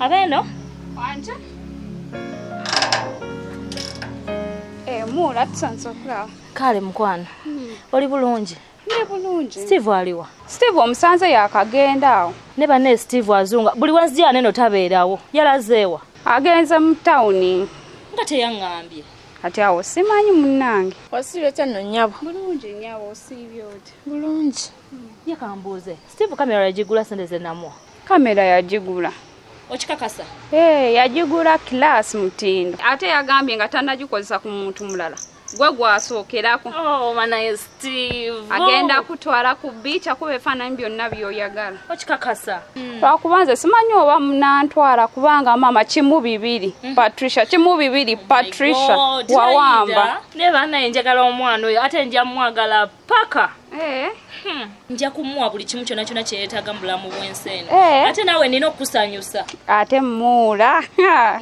Abeno wanje eh, muula tusanze okulaba kale mukwano hmm. oli bulungi ne bulungi steve aliwa steve omusanze yakagenda awo ne bane steve azunga buli wenzija neno tabeerawo yalazeewa agenze mu tawuni nga teyaŋŋambye kati awo simanyi munnange osiibye otya nno nnyabo bulungi nnyabo osiibye otya bulungi hmm. ye kambuuze steve kamera yagigula sente ze namuwa kamera yagigula okikakasa ee eh, yagigula kilaasi mutindo ate yagambye nga tanagikozesa ku muntu mulala gwe gwasookerako oh, manaye steve agenda kutwala ku biica kuba efaananyi byonna byoyagala okikakasa hmm. lwakuba nze simanyi oba munantwala kubanga maama kimu bibiri hmm. patricia kimu bibiri oh patricia wawamba naye banaye njagala omwana oyo ate njamwagala paka eh. hmm. nja kumuwa buli kimu kyona kyona kyeyetaaga mu bulamu bwensi eno eh. ate naawe nina okukusanyusa ate muula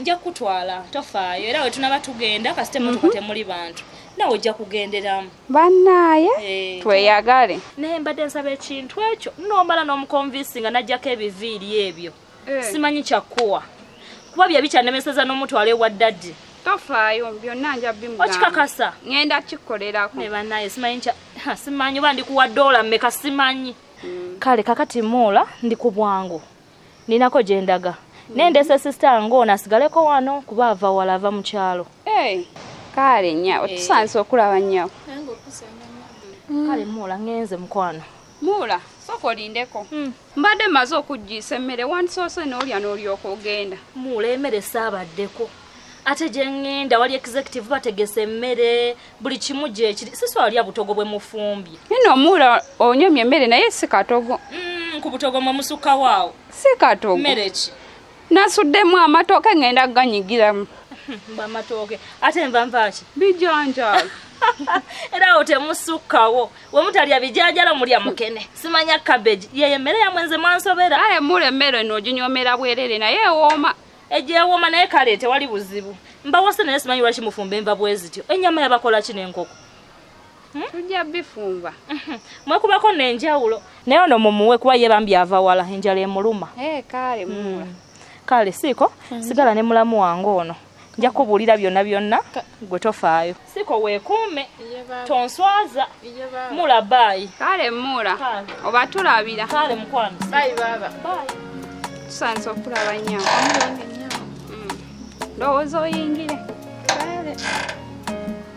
nja kukutwala tofaayo era we tunaba tugenda kasite motoka mhm. temuli bantu nawe ojja kugenderamu bannaaye eh. tweyagale naye mbadde nsaba ekintu ekyo nomala n'omukonvinsi nga najjako ebiviiri ebyo eh. simanyi kyakkuwa kuba bye bikyanemeseza n'omutwalo ewa ddadi tofaayo byonna nja bimukikakasa ŋenda kikolerako ne banaye simanyi simanyi oba ndikuwa doola mmeka simanyi mm. kale kakati muula ndi ku bwangu ninako gye ndaga mm. naye ndese sisita ng'ono asigaleko wano kuba ava wala ava mu kyalo eh. kale nya eh. otusanze okulaba nyabo kale muula ŋenze mukwano muula sooka olindeko hmm. mbadde maze okuggiisa emmere wandisoose n'olya n'olyoka ogenda muula emere saabaddeko ate gye ŋŋenda wali executive bategese emmere buli kimu gyekiri siswalya butogo bwe mufumbye nino omuula onyomye emmere naye si katogo hmm, ku butogo mwe musukawaawo si katogo mmere ki nasuddemu amatooke ngenda ganyigiramu bamatooke ate nva nvaki bijanjalo era awo temusukkawo wemutalya bijanjalo mulya mukene simanya cabbage yeyo emmere yamwe nze mwansobera aye mula emmere eno oginyomera bwerere naye ewooma egyewooma naye kale tewali buzibu mbawase naye simanyi lwaki mufumba enva bwezityo ennyama yabakola ki n'enkoko Hmm? tujja bifumba hmm. mwekubako nenjawulo naye ono mumuwe kuba ye bambi ava wala enjala emuluma eh, kale hmm. kale siiko sigala ne mulamu wange ono nja kubuulira byonna byonna gwe tofaayo siko weekuume tonswaza mula baayi kale muula oba tulabira kale mukwano bayi baaba tusanze okulaba nyama ndowooza oyingire kale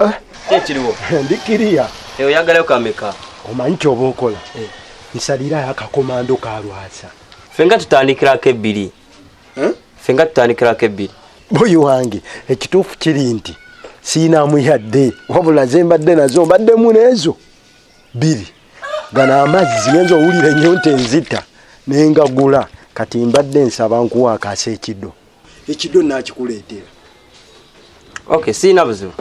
Eh? Kyekiriwo. Ndi kiriya. Eh, oyagalayo kameka. Omanyi kyoba okola. Eh. Nsalirayo akakomando ka Lwasa. Fenga tutandikirako ebbiri. Eh? Fenga tutandikirako ebbiri. Boyi wange ekituufu kiri nti siinamu yadde wabula ze mbadde nazo mbaddemu n'ezo bbiri gano amazzi genza owulira ennyo nti enzita nengagula kati mbadde nsaba nkuwa akaasa ekido ekidyo nakikuleetera ok siina buzibu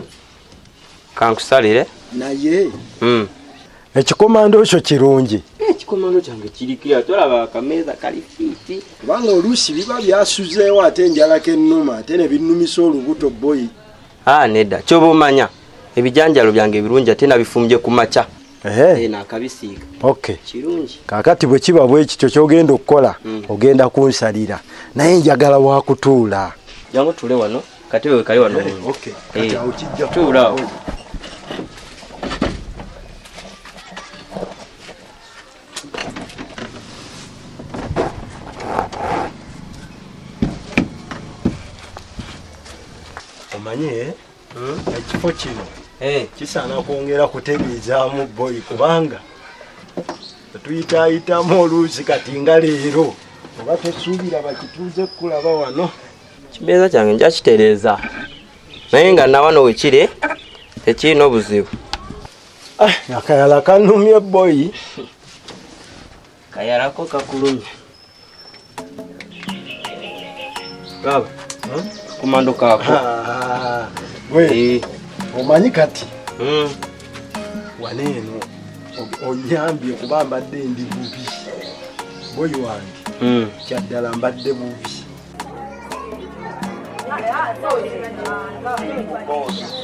kankusalire naye hmm. ekikomando ekyo kirungi ekikomando kyange kirikira tolaba akameeza kali fiiti kubanga oluusi biba byasuzeewo ate enjalako ennuma ate ne binnumisa olubuto boyi a ah, nedda kyoba omanya ebijanjalo byange ebirungi ate nabifumbye ku makya Eh, nakabisiika okay. kirungi kakati bwe kiba bwe kityo kyogenda okukola mm. ogenda kunsalira naye njagala wakutuula jangu tule wano kati wewe kali wano eh, okay. hey. Eh, tuula oh. omanye ekifo kino eh. kisaana kwongera kutegeezaamu boy kubanga tuyitaayitamu oluusi kati nga leero oba tesuubira bakituuze kukulaba wano kimeeza kyange nja kitereeza naye nga nawano wekiri tekirina obuzibu ah, akayala kanumye boyi kayalako kakulumye baba hmm? kumando kako gwe eh. omanyi kati hmm. waneeno onyambye kuba mbadde ndi bubi boyi wange hmm. kyaddala mbadde bubi Boss.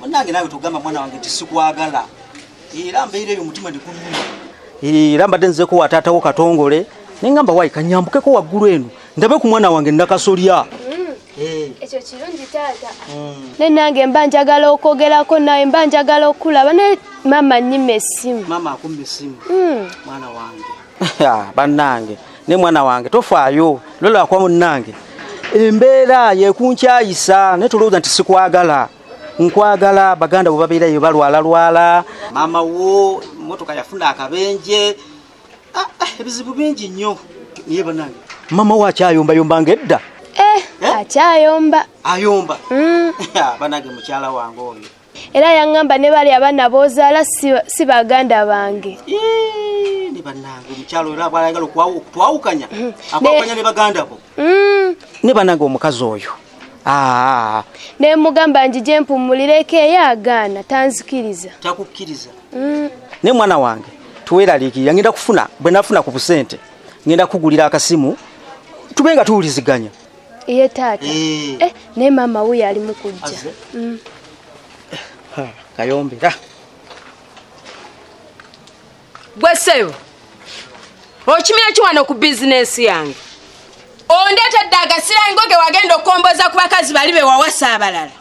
munange nawe tugamba mwana wange tisikwagala era mbeera eyo omutima ndikuluma era mbadde nzeko wa taata wo katongole naye ngamba wayi kanyambukeko waggulu eno ndabe ku mwana wange nakasolya mm. eh. ekyo kirungi taata mm. naye nange mba njagala okwogerako nawe mba njagala okukulaba naye maama nyima esimu maama akuma esimu mm. mwana wange bannange ne mwana wange tofaayo lolwakwa munnange embeera yekunkyayisa naye tolowooza nti sikwagala nkwagala baganda bwe babeerayo balwalalwala maama wo motoka yafuna akabenje ah, ah, ebizibu bingi nnyo naye banange maama wo akyayombayomba nga edda eh, eh? akyayomba ayomba mm. banange mukyala wange oyo era yaŋŋamba ne bali abaana b'ozaala si baganda bange ne bannange omukyalo era bwalayagala okutwawukanya mm-hmm. akwawukanya ne baganda bo mm. ne bannange omukazi oyo ah. ne mugamba njije mpumulireko eyo agaana tanzikiriza takukkiriza mm. ne mwana wange tuweraliikirira ngenda kufuna bwe nafuna ku busente ngenda kugulira akasimu tube nga tuwuliziganya iye taata eh. eh, naye maama wuyo ali mu kujja mm. kayombera gwe ssebo okimira ki wano ku bizinensi yange ondeetedde agasirango ge wagenda okukomboza ku bakazi bali be wawasa abalala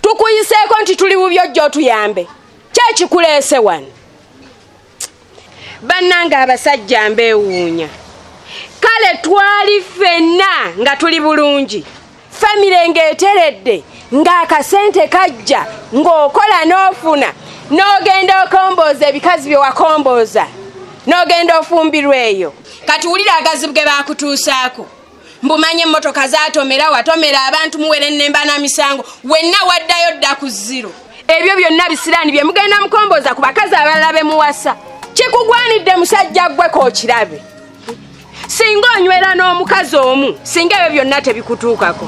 tukuyiseeko nti tuli bubyo jjo otuyambe kyekikuleese wano bannange abasajja mbeewuunya kale twali ffenna nga tuli bulungi famire ng'eteredde ng'akasente kajja ng'okola n'ofuna n'ogenda okombooza ebikazi bye wakombooza n'ogenda ofumbirwa eyo kati wulira agazibu ge baakutuusaako mbumanye emmotoka zatomera watomera abantu muwere nnemba na misango wenna waddayo dda ku ziro ebyo byonna bisiraani bye mugenda mukomboza ku bakazi abalala be muwasa kikugwanidde musajja ggweko okirabe singa onywera n'omukazi omu singa ebyo byonna tebikutuukako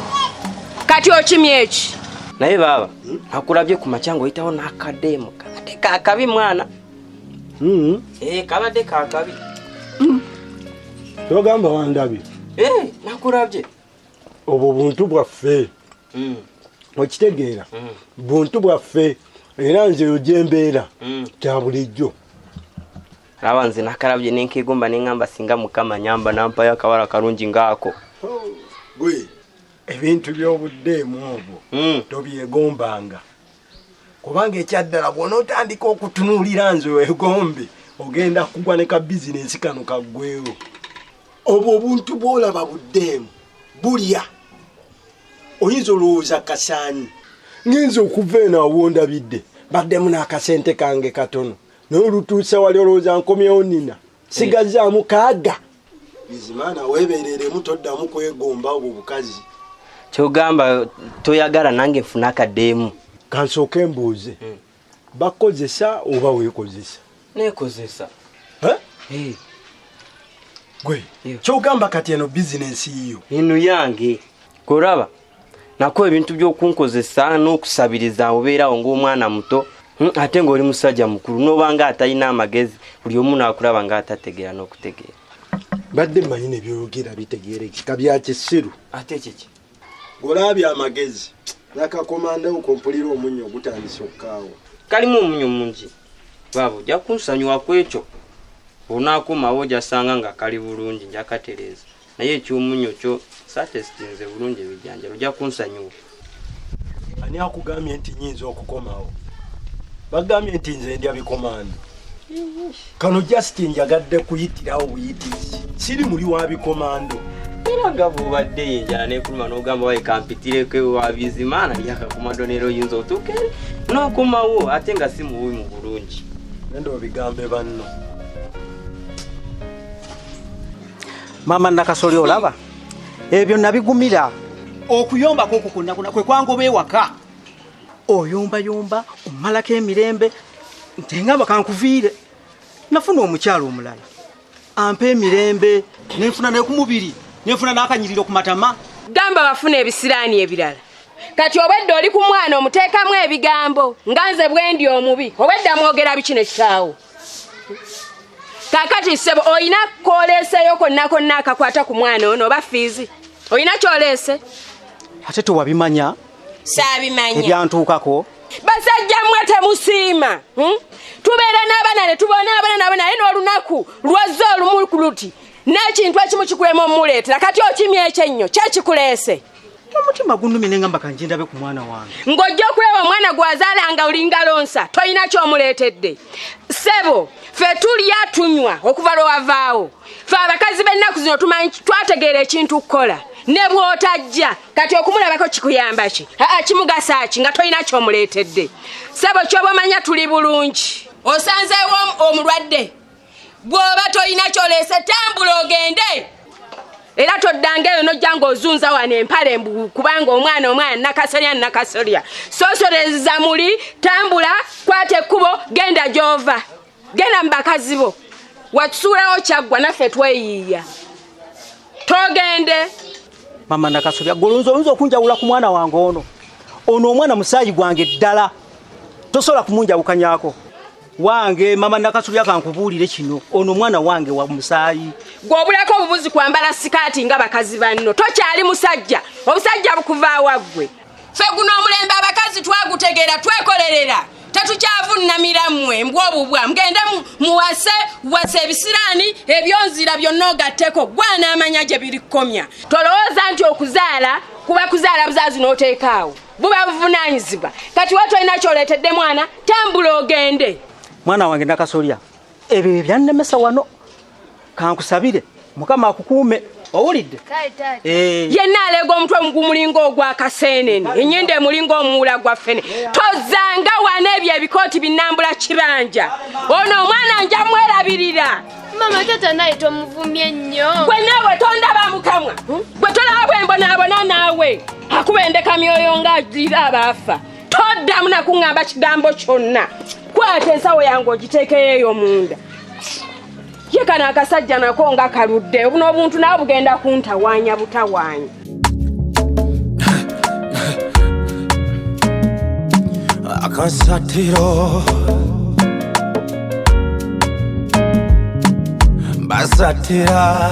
kati okimya eki naye baaba akulabye ku makya ngaoyitawo n'akadeemu kakade kakabi mwana Hmm. Eh, kabadde kakabi hmm. kyogamba wandabye eh, nakulabye obwo buntu bwaffe hmm. okitegeera buntu bwaffe era nze eyo gyembeera kya bulijjo laba nze nakalabye nenkegomba neŋamba singa mukama nyamba nampayo akawala kalungi ngaako oh, ebintu byobuddeemu obwo tobyegombanga kubanga ekyaddala bwonaotandika okutunuulira nze wegombe ogenda kugwa ne ka bizinensi kano kaggwewo obwo obuntu bwolaba buddeemu bulya oyinza olowooza kasaanyi ngenza okuva eno awondabidde baddemu n'akasente kange katono naye olutuusa wali olowooza nkomyewo nina sigazza mukaaga bizimana webereremu toddamu kwegomba obwo bukazi kyogamba toyagala nange nfuna akadeemu kansooke mbuuze hmm. bakozesa oba wekozesa nekozesa gwe kyogamba kati eno bizinensi yiyo inu yange koraba nako ebintu byokunkozesa n'okusabiriza obeerawo ng'omwana muto hmm, ate ng'oli musajja mukulu n'obanga atalina amagezi buli omu naakulaba ng'atategeera n'okutegeera badde manyi nebyogera bitegerekeka byakisiru ate kiki ng'olabye amagezi nakakomandawo kompulira omunyo ogutandisa okukaawa kalimu omunyo mungi baaba ojja kunsanyuwa ku ekyo onaakomawo ojasanga nga kali bulungi njakatereeza naye ekyumunyo kyo satesitinze bulungi ebijanjalo ojja kunsanyuwa ani akugambye nti nyinza okukomawo bagambye nti nze ndya bikomando kano just njagadde kuyitirawo buyitizi siri muli wa bikomando era nga bwobadde yenjala nekuluma nogamba waye kampitireko wabizimaana lyakakomando neera oyinza otuuke nokomawo ate nga si mububi mu bulungi nende obigambe banno maama nakasoli olaba ebyo nabigumira okuyomba kwokukunakuna kwekwangoba ewaka oyombayomba omalako emirembe ntengamba kankuviire nafuna omukyalo omulala ampa emirembe nenfuna nekumubiri nenfuna nakanyiriro kumatama gamba bafuna ebisiraani ebirala kati obwedda oli ku mwana omuteekamu ebigambo nga nze bwendi omubi obwedda mwogera bikino kitaawo kakati sebo olina koleeseyo konna konna akakwata ku mwana ono oba fiizi olina kyoleese ate tewabimanya saabimanya ebyantuukako basajja mmwe temusiima hmm? tubeera n'abaana ne tubona abaana nabo naye n'olunaku lwazza olumu luti n'ekintu ekimu kikulema omuleetera kati okimya ekyennyo kyekikuleese omutima gunumye ne ngamba kanje ndabe ku mwana wange ng'ojja okulaba omwana gwazaala nga olinga lonsa tolina kyomuleetedde ssebo fe tulya tunywa okuva lwe wavaawo fe abakazi b'ennaku zino tumanyi twategeera ekintu kukola ne bw'otajja kati okumulabako kikuyamba ki aa kimugasa ki nga tolina kyomuleetedde ssebo kyoba omanya tuli bulungi osanzeewo omulwadde bw'oba tolina kyoleese tambula ogende era toddanga eyo nojja ng'ozunza wano empale mbu kubanga omwana omwana nakasolya nakasolya sosoleza muli tambula kwata ekkubo genda gy'ova genda mu bakazi bo watusuulawo kyaggwa naffe tweyiiya togende mama nakasobya gwe olunza olunza okunjawula ku mwana wange ono ono omwana musaayi gwange ddala tosobola kumunjawukanyako wange mama nakasobya kankubuulire kino ono omwana wange wa musaayi gwobulako obubuzi kwambala sikaati nga bakazi banno tokyali musajja obusajja bukuvaawaggwe fe guno omulembe abakazi twagutegeera twekolerera tetukyavunnamira mmwe mbwobubwa mugende muwase wase ebisiraani ebyonzira byonna ogatteko gwana amanya gye birikomya tolowooza nti okuzaala kuba kuzaala buzaazi n'oteekaawo buba buvunanyizibwa kati watu alina kyoleetedde mwana tambula ogende mwana wange nakasolya ebyo ebyannemesa wano kankusabire mukama akukuume owulidde eh. yenna aleega omutwe mugumulinga ogwakaseenene enyenda emulinga omuwula gwaffene tozanga wana ebyo ebikooti binambula kibanja ono omwana nja mwerabirira mama tata naye tomuvumye nnyo gwe naawe tondaba mukamwa gwe tolaba bwembonabona naawe akubendeka myoyo nga ajulira abaafa toddamu nakuŋŋamba kigambo kyonna kwata ensawo yange ogiteekeyo eyo munda ye kano akasajja nako nga kaludde obuno obuntu nawe bugenda kuntawaanya butawaanya akasatiro basatira